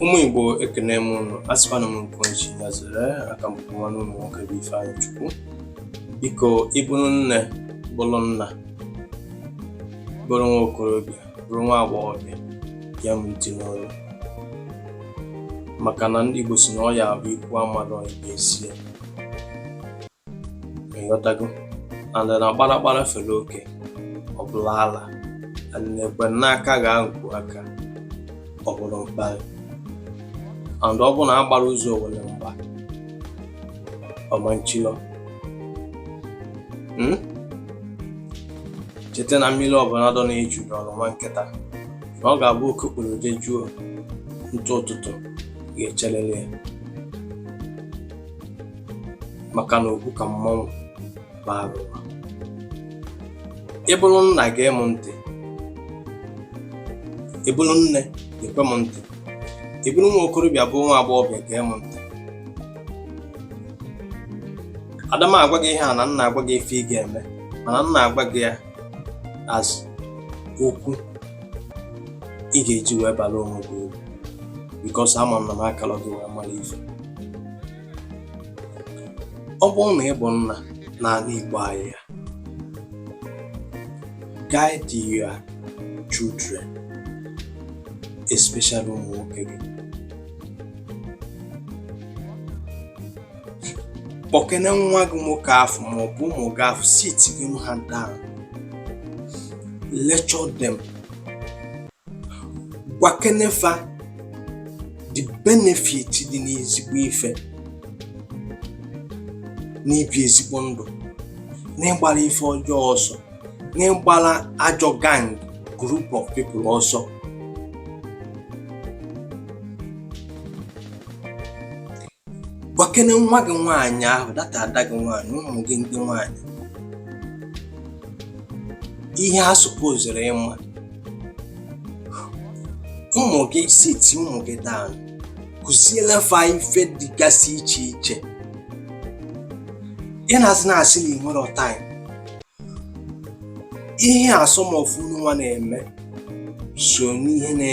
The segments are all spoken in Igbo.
Ụmụ Igbo ekene m ụnụ asịkwana m nke onye chi ya zere aka m bụ nwanne ụnụ nwoke bụ Ifeanyịchukwu biko ị bụrụ nne bụrụ nna bụrụ nwa okorobịa bụrụ nwa agbọghọbịa ya m ntị n'ọnụ maka na ndị Igbo si na ọ ya-abụ ikwu amarọ ibe ezie ị ghọtago and na gbaragbara fere oke ọ bụrụ ala and ekwe n'aka gaa nku aka ọ bụrụ mgba and ọ bụ na a gbara ụzọ owele mgba ọ ma nchilọ hmm? cheta na mmiri ọbụla dọ n'eju dọọlụ nwa nkịta na ọ ga-abụ oke kpụrụ dejuo ntụ ụtụtụ ga-echelele ya maka na okwu ka mmanwụ bara ụba ị bụrụ nna gee m ntị ị bụrụ nne gee m ntị ị bụrụ nwa okorobịa bụ nwa agbọghọbịa gee m ntị ada m agwa gị ihe a na m na-agwa gị ife ị ga-eme mana m na-agwa gị ya as okwu ị ga-eji wee bara onwe gị uru because ama m na m akalọ gị wee mara ife ọ bụrụ na ị bụ nna n'ala Igbo anyị a guide your children especially ụmụ nwoke gị kpọkene nwa gị nwoke afụ maọbụ ụmụ gị afụ sitikene ha down lecture them gwakene fa the benefit dị n'ezigbo ife n'ibi ezigbo ndụ n'ịgbara ife ọjọọ ọsọ n'ịgbara ajọ gang group of people ọsọ Gwakene nwa gị nwaanyị ahụ that ada gị nwaanyị ụmụ gị ndị nwaanyị ihe ha supoziri ịma ụmụ gị siti ụmụ gị down kụziele fa ife dịgasị iche iche ị nọzi na-asị na i nwerọ time ihe a some of unu nwa na-eme so n'ihe na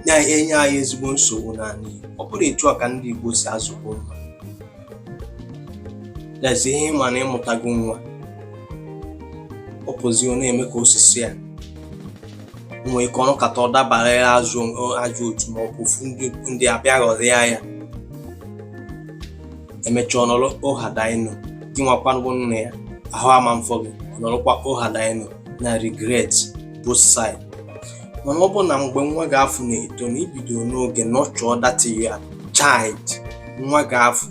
na-enye anyị ezigbo nsogbu n'ala Igbo ọ bụrọ etu a ka ndị Igbo si azụkwu nwa lezie ihe ị ma na ị mụtago nwa ọ pụzi ọ na-eme ka o si sọ ya nwee ike ọ nọkata ọ dabara ya ajọ otu ma ọ bụ ofu ndị abịa ghọrịa ya emechaa ọ nọrọ had I known gị nwakwanụ nne ya ahụ ama mfọ gị ị nọrọkwa had I known na regret both side mana ọ bụ na mgbe nwa gị afụ na-eto na i bido n'oge nurture that your child nwa gị afụ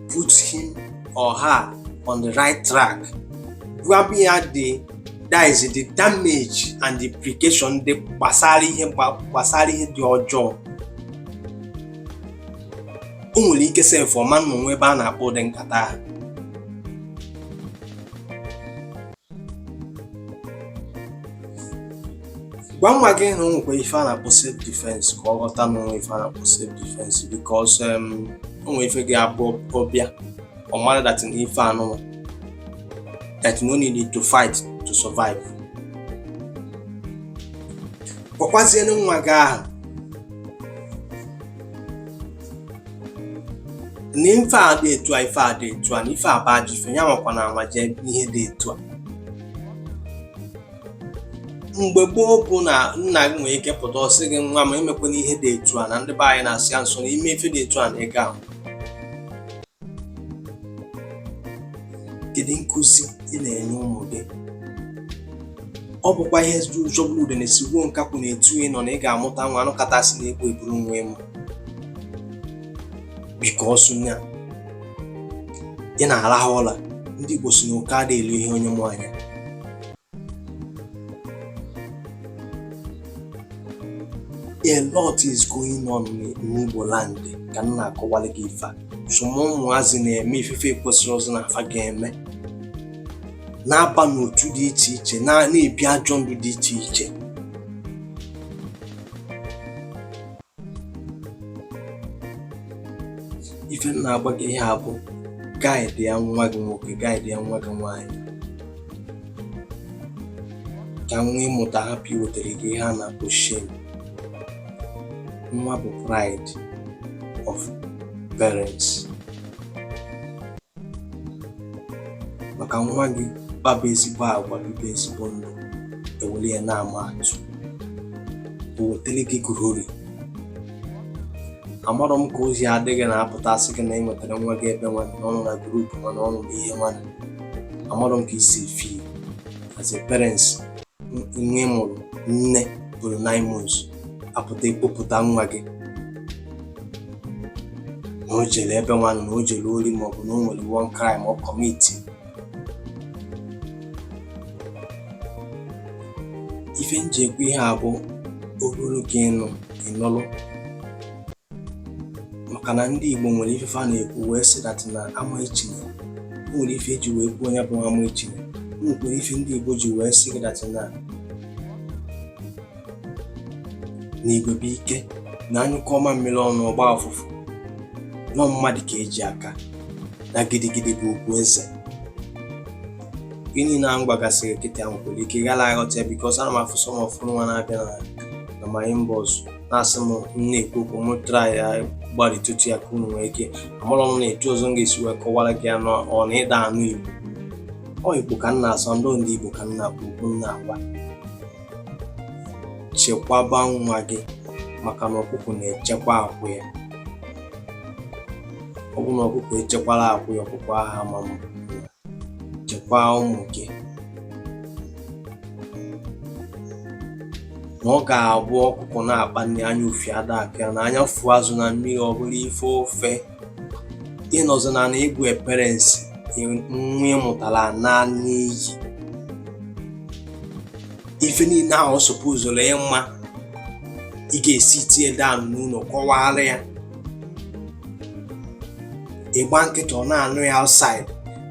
put him or her on the right track gwaba ya the dis the damage and the implication dị gbasara ihe dị ọjọọ o nwere ike sef ọ ma na o nwe ebe a na-akpa ụdị nkata ahụ gwa nwa gị na o nwekwa ife a na-akpọ self defense ka ọ ghọta na o nwe ife a na-akpọ self defense because um, o nwere ife ga-abụ ọ bịa ọ mara that na ife anụnwa that no need to fight to survive gwakwazienụ nwa gị ahụ na ife a dị etu a ife a dị etu a na ife a bụ ajọ ife ya anwakwana anwa jee ihe dị etu a mgbe gboo bụ na nna gị nwere ike pụta ọ sị gị nwa m emekwana ihe dị etu a na ndị be anyị na-asọ ya nsọ na i mee ife dị etu a na ị ga-ahụ kedu nkụzi ị na-enye ụmụ gị ọ bụkwa ihe jọgburu udene sigbuo nkakwụ na etu ị nọ na ị ga-amụta nwa a nụkata sị na egbu eburu nwa ị mụ because na ị na-arahụ ụla ndị Igbo sị na oke ada eli ihe onye mụ anya a lot is going on n'Igbo land ka m na-akọwara gị ife some ụmụazị na-eme ife fa ekwesịrọzị na fa ga-eme na-aba n'otu dị iche iche na-ebi ajọ ndụ dị iche iche ife m na-agwa gị ihe a bụ guide ya nwa gị nwoke guide ya nwa gị nwaanyị ka nwa ị mụta hapụ iwetara gị ihe a na-akpọ shame nwa bụ pride of parents maka nwa gị kpaba ezigbo agwa bibe ezigbo ndụ e were ya na-ama atụ o wetara gị glory amarọ m ka o si adị gị na a pụta a sị gị na e nwetara nwa gị ebe nwanụ ọ nọ na group nwanụ ọ nọ na ihe nwa amarọ m ka i si feel as a parents nwa ị mụrụ nne buru nine months a pụta a kpọpụta nwa gị na o jere ebe nwanụ na o jere ori maọbụ na o nwere one crime ọ commit ife m ji ekwu ihe a bụ ọ bụrụ ka ị nụ ị nụrụ maka na ndị Igbo nwere ife a na-ekwu wee sị that na ama echine o nwere ife eji wee kwuo onye bụ ama echine o nwekwara ife ndị Igbo ji wee sị gị that na igwe bụ ike na anyụkọọ mamịrị ọnụ ọ gba ụfụfụ na ọ mmadụ ka eji aka na gidigidi bụ ugwu eze gịnị na m gbagasịrị kịta ahụ nwere ike ghara aghọta ya because ana m afụ some of unu nwa na-abịa na my inbox na-asị m na-ekwu okwu m try ya gbarịtụtụ ya ka unu nwee ike amarọ m na etu ọzọ m ga-esi wee kọwara gị ya na ọ na ị da-anụ igbo ọ igbo ka m na-asụ ndị ndị igbo ka m na-akpọ okwu m na-agwa chekwaba nwa gị maka na ọkụkọ na-echekwa akwụ ya ọ bụ na ọkụkọ echekwala akwụ ya ọkụkọ aha ma mma chekwaa ụmụ gị na ọ ga-abụ ọkụkọ na-akpa nri anya ufie ada akọ ya na anya fụ azụ na mmiri ọ bụla ife ofe ị nọzi na na ị bụ parents nwa ị mụtara ana n'iyi ife niile ahụ ọ supposuru ịma ị ga-esit ya down n'ụlọ kọwara ya ị gba nkịtị ọ na-anụ ya outside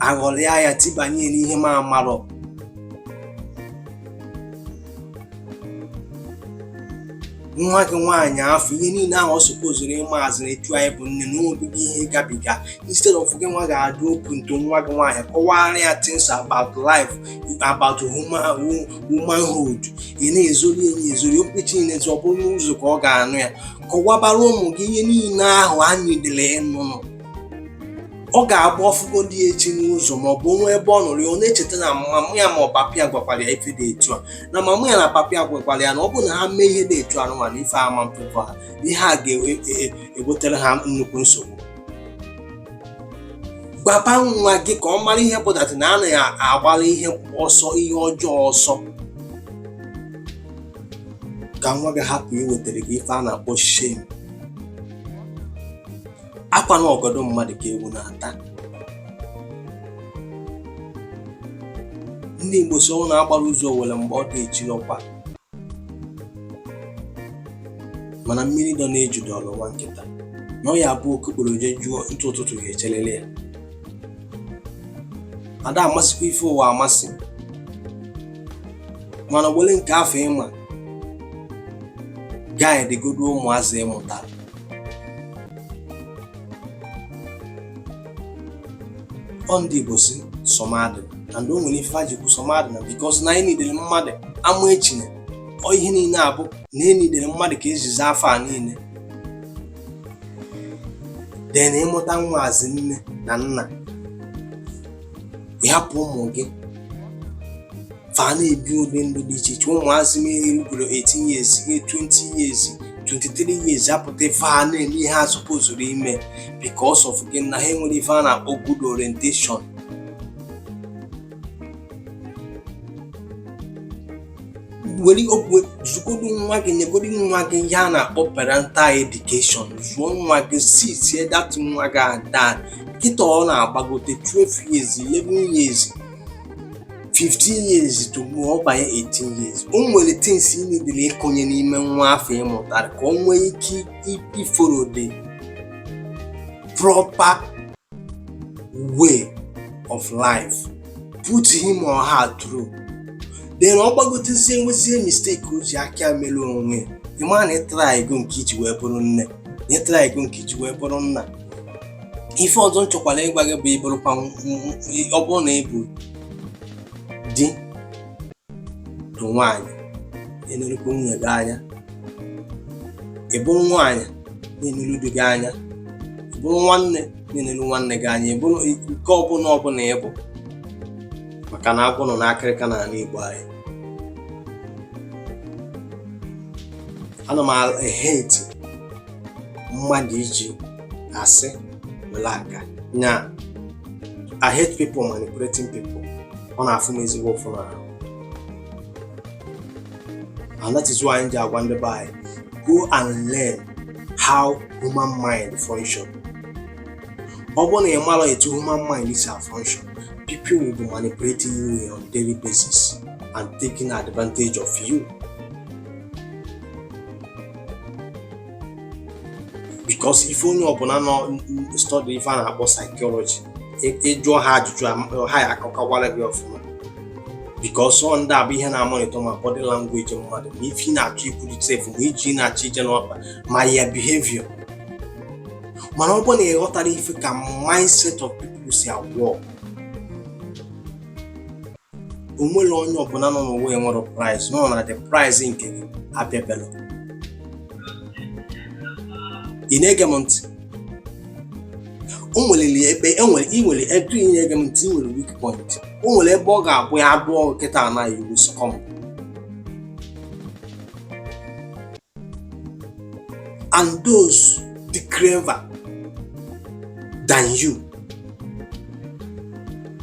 aghọrịa ya tibanye n'ihe m amarọ nwa gị nwaanyị afụ ihe niile ahụ ọ supposuru ịma as in etu anyị bụ nne na obibi ihe gabiga instead of gị nwa ga-adị open to nwa gị nwaanyị kọwara ya things about life about womanhood ị na-ezori enye ezori okpechi niile ọ bụrụ n'ụzọ ka ọ ga-anụ ya kọwabara ụmụ gị ihe niile ahụ ha needịrị ịnụnụ ọ ga-abụ ọ fụgodị echi n'ụzọ ma ọ bụ o nwee ebe ọ nụrụ ya ọ na-echeta na mama ya ma ọ papa ya gwakwara ya ife dị etu a na mama ya na papa ya gwakwara ya na ọ bụrụ na ha mee ihe dị etu a nụnwa na ife ama mpekọ ha ihe a ga-ewetara ha nnukwu nsogbu gwaba nwa gị ka ọ mara ihe pụtara na a na-agbara ihe ọsọ ihe ọjọọ ọsọ ka nwa gị hapụ iwetara gị ife a na-akpọ shame akwa na ọgọdọ mmadụ ka ewu na-ata ndị Igbo sị ọ bụ na agbarọ ụzọ owere mgba ọ dị echi ọkwa ị ma na mmiri dọ n'eju dọrọ nwa nkịta na ọ ya abụ okokporo jejuo ntụ ụtụtụ ga-echelele ya ada amasịkwa ife ụwa amasị mana were nke afụ ị ma guide godu ụmụazị ị mụtara ọ ndị Igbo sị sọmadịna and o nwere ife fa ji kwu sọmadịna because na anyị nidere mmadụ ama echine ọ ihe niile abụ na enidere mmadụ ka ejizi afọ a niile then ịmụta nwazị nne na nna ịhapụ ụmụ gị fa na-ebi ụdị ndụ dị iche iche ụmụazị ị mụrụ rugoro 18 years 20 years 23 years apụta fa na-eme ihe asupozurọ ime because of gịnị ha enwerọ ife a na-akpọ good orientation were okwu zụgodu nwa gị nyegodu nwa gị ihe a na-akpọ parental education zụọ nwa gị see to it that nwa gị ada kịta ọ na-agbagote 12 years 11 years 15 years tupu ọ banye 18 years o nwere things ị nidere ịkụnye n'ime nwa afọ ịmụtara ka o nwee ike iforo the proper way of life put him or her through then ọ gbagotezie nwezie mistake o ji aka mere onwe ịma na ịtraịgo nke iji wee bụrụ nne na ịtraịgo nke iji wee bụrụ nna ife ọzọ m chọkwara ịgwa gị bụ ịbụrụkwa ọ bụrụ na ịbụ di nwaanyị na-enerukwa nwunye gị anya ị bụrụ nwaanyị na-eneru di gị anya ị bụrụ nwanne na-eneru nwanne gị anya ị bụrụ nke ọbụla ọ bụ na ị bụ maka na agwọ nọ n'akịrịka n'ala Igbo anyị ana m eheti mmadụ iji asị were aga nya I hate people manipulating people ọ na-afụ m ezigbo ụfụ n'ahụ and that is why m ji agwa ndị be anyị go and learn how human mind function ọ bụrụ na ị marọ etu human mind si afunction people will be manipulating you on daily basis and taking advantage of you because ị fụ onye ọbụla nọ study ife a na-akpọ psychology ịjụọ ha ajụjụ ha ya akọkawara gị ọfụma because ọ ndị a bụ ihe na-amonitọ ma body language mmadụ ma ife ị na-achọ ikwurịta efu ma ije ị na-achọ ije n'ọkpa ma your behavior mana ọ bụ na ịghọtara ife ka mindset of people si awọk o nwerọ onye ọbụla nọ n'ụwa enwerọ price nọ na the price nke gị abịabela ị na-ege m ntị o nwere ebe enwere ị nwere etu ị na-ege m ntị ị nwere weak point o nwere ebe ọ ga-abụ ya abụọ kịta na you will succumb and those dị clever than you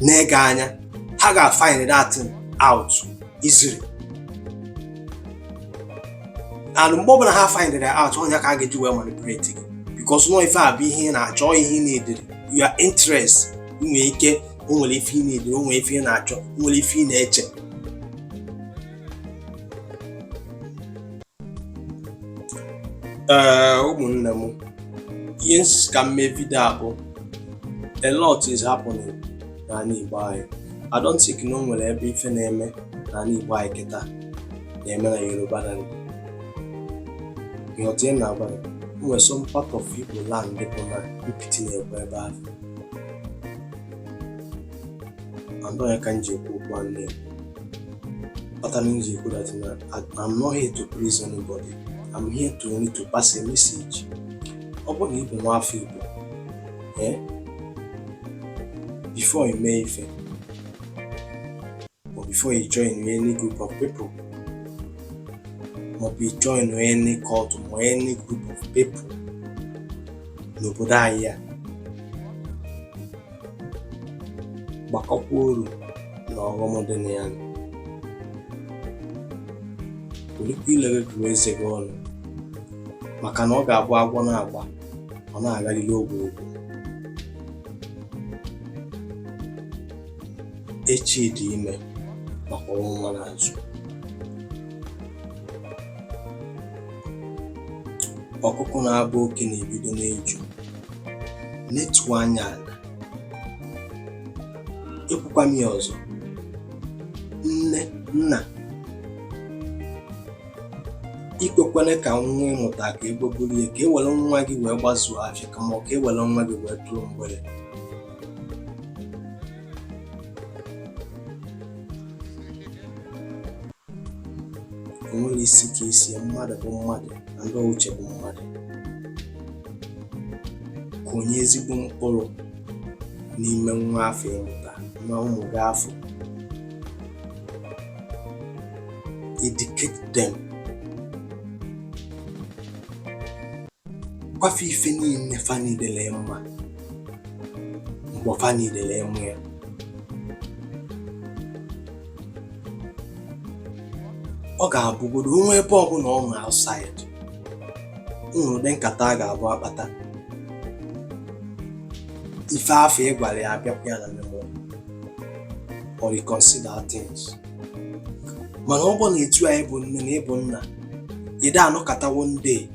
nee gị anya ha ga-find that thing out easily and mgbe ọbụla ha find it out ọ nya ka a ga-eji wee manipulate gị because na ọ ife a bụ ihe ị na-achọ ihe ị na-edere your interest nwee ike o nwere ife ị na-edere o nwere ife ị na-achọ o nwere ife ị na-eche ee eh, ụmụnne m ihe m sị ka m mee vidio a bụ a lot is happening n'ala Igbo anyị I don't think na o nwere ebe ife na-eme n'ala Igbo anyị kịta na-eme na Yoruba land ị ghọta ị na-agwa ya o nwere some part of Igbo land bụ na mpiti na-ekwe ebe ahụ and ọ nya ka m ji ekwu okwu a na-ekwu kpatara m ji ekwu that na I'm not here to please anybody I'm here to only to pass a message ọ bụrụ na ị bụ nwa afọ Igbo ee eh, before you mee ife or before you join any group of people maọbụ join any cult ma any group of people n'obodo anyị a gbakọkwa uru na ọghọm dị na ya welikwa ile gị gụọ eze gị ọnụ maka na ọ ga-abụ agwọ na-agba ọ na-agarịrị ogwu ogwu echi dị ime maka ọnwụnwa n'azụ ọkụkụ na-abụ oke na-ebido n'eju letuo anya ala ekwukwa m ya ọzọ nne nna ikwekwele ka nwa ị mụta ka egbe buru ya ka e were nwa gị wee gbazuo afịa kama ọ ka e were nwa gị wee tụrụ mgbere o nwere isi ka isi ya mmadụ bụ mmadụ na ndị uche bụ mmadụ kụnye ezigbo mkpụrụ n'ime nwa afụ ị mụta na ụmụ gị afụ educate them gwa fa ife niile fa niile mma mgbe fa niile mụ ya ọ ga-abụgodo o nwee ebe ọbụla ọ nụ outside ụdị nkata a ga-abụ akpata ife afụ ị gwara ya abịakwa ya na memory ọ reconsider things mana ọ bụ na etu a ị bụ nne na ị bụ nna ide anọkọtawo ndị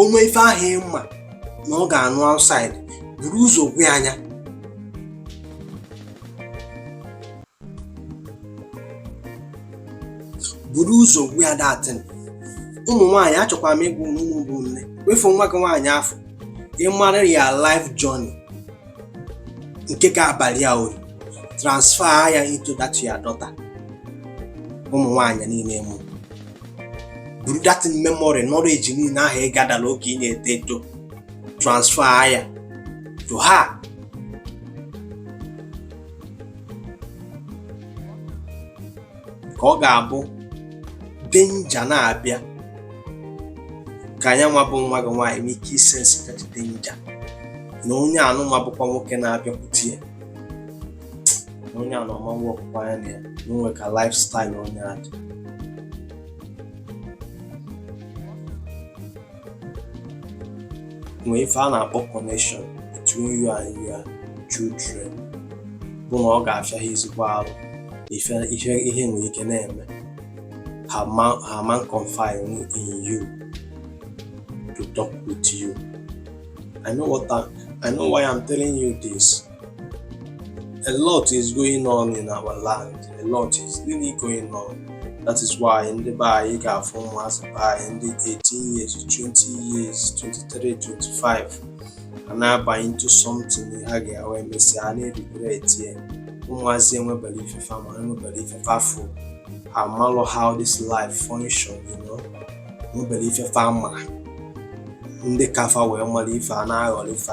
o nwe ife ahụ ị ma na ọ ga-anụ outside buru ụzọ gwa nya buru ụzọ gwa ya that thing ụmụ nwaanyị achọkwara m ịgwa ụnụ bụ nne wefu nwa gị nwaanyị afụ ị mara your life journey nke ga-abalụ ya uru transfer ya into that your daughter ụmụ nwaanyị niile ị mụrụ buru that memory knowledge niile ahụ ị gathera oge ị na-eto eto transfer ya to her ka ọ ga-abụ danger na-abịa ka nyanwa bụ nwa gị nwaanyị nwee ike isense that danger na onye anụnwa bụkwa nwoke na-abịakwute ya na onye anụnwa wepụkwa anya na ya na o nwe ka lifestyle onye a dị nwee ife a na-akpọ connection between you and your children bụ na ọ ga-afịa ha ezigbo arụ ihe nwere ike na-eme ha ma ha ma confide in you to talk with you I know why I'm telling you this A lot is going on in our land. A lot is really going on. That is why ndị be anyị ị ga-afụ ụmụazị be anyị ndị 18 years, 20 years, 23, 25 a na-abanye into something ha ga-ewe emesịa a na-eregret ya ụmụazị enweberọ ife fa ma enweberọ ife fa fụ amarọ how this life function you know enweberọ ife fa ma ndị ka fa wee mara ife a na-aghọrọ ife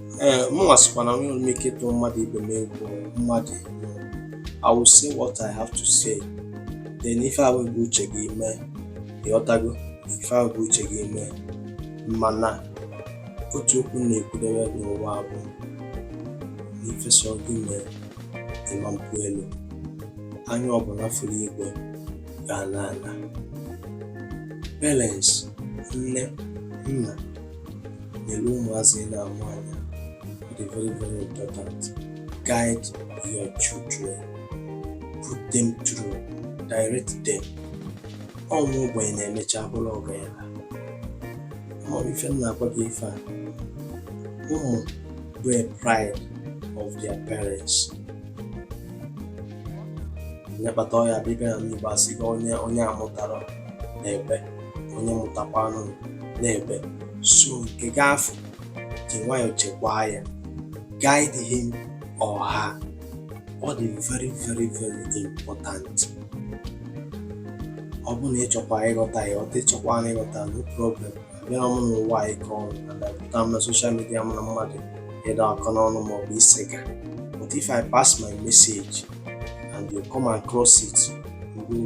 ee mụnwa sịkwa na enwerọ m ike ịtụ mmadụ ibe m egwu mmadụ I will say what I have to say then ife ahụ bụ uche gị mee ị ghọtago ife ahụ bụ uche gị mee mana otu okwu na-ekwudebe n'ụwa bụ na ife sọ gị mee ị ma mpụ elu anya ọbụla fụrụ igwe ga-ala ala parents nne nna nyere ụmụazị ị na-amụ anya dị very very important guide your children put them through direct them ọ nwa ogbenye na-emecha bụrụ ọgaranya ọ ife m na-agwa gị ife a ụmụ bụ a pride of their parents nya kpata ọ ya-abụ ị bịa na ndị Igbo asị gị onye amụtarọ na-ebe onye mụtakwanụ na-ebe so nke ị ga-afụ ji nwayọọ chekwaa ya guide him or her ọ dị very very very important ọ bụrụ na ị chọkwa ịghọta ị ghọta ị chọkwanụ ịghọta no problem abịarọ m n'ụwa a ịkọ ọnụ na pụta m na social media m na mmadụ ịdọ aka n'ọnụ ma ọ bụ isega but if I pass my message and you come across it, you will